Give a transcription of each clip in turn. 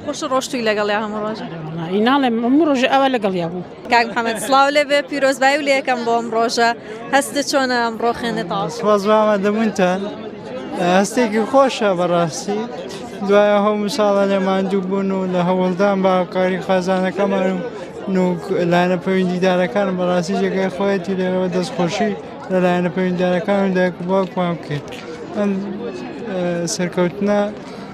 خوش ڕۆشتوی لەگەڵیا هەموو ڕۆژە ناڵێم هەموو ڕۆژە ئەوە لەگەڵیا بوو کاک محەممەد سلااو لێ بێ پیرۆزبایی و لەکەم بۆم ڕۆژە هەستە چۆنە ئەم ڕۆخێنێت تاوازوامە دەبوونتان هەستێکی خۆشە بەڕاستی دوایە هەو مساڵە لە ماندوو بوون و لە هەوڵدان بە کاری خازانەکەمان و نوک لایەنە پەیوەندیدارەکان بەڕاستی جێگەی خۆیەتی لێرەوە دەستخۆشی لە لایەنە پەیوەندیدارەکان و دایک بۆکوان بکرد ئەم سەرکەوتنە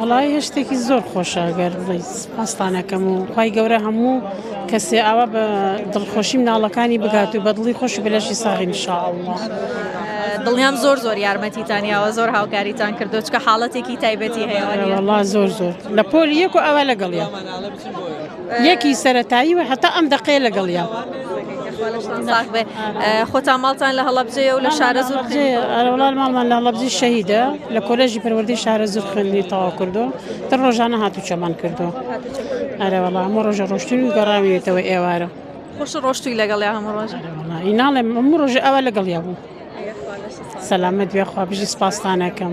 وەڵای هەشتێکی زۆر خۆشە گەر بڵیت پاستانەکەم و خی گەورە هەموو کەسێ ئاوا بە دڵخۆشی مناڵەکانی بگات و بەدڵی خۆش بلەشی ساغی نیشاءله. دڵنیام زۆر زۆر یارمەتیتانیاوە زۆر هاوکاریتان کردو چکە حاڵەتێکی تایبەتی هەیەوەڵا زۆر زۆر لە پۆل یەک و ئاوا لەگەڵە. لێکی سەرەتایی و هەتا ئەم دەقەیە لەگەڵیە. خۆتان ماڵتان لە هەڵەبجەیە و لە شارە زۆر ئەرەڵان ماڵمان لە هەڵەبجی شەهیدە لە کۆلێژی پەروەردەی شارە زۆر خوێندنی تەواو کردو تر ڕۆژانە هاتو چەمان کردو ئەرەوەڵا هەموو ڕۆژە ڕۆشتوی و گەڕاویێتەوە ئێوارە خۆش ڕۆشتوی لەگەڵ هەموو ڕۆژ ئیناڵێ هەموو ڕۆژ ئەوە لەگەڵ یا بوو. سەلامەت بێ خوا بژی سپاستانەکەم.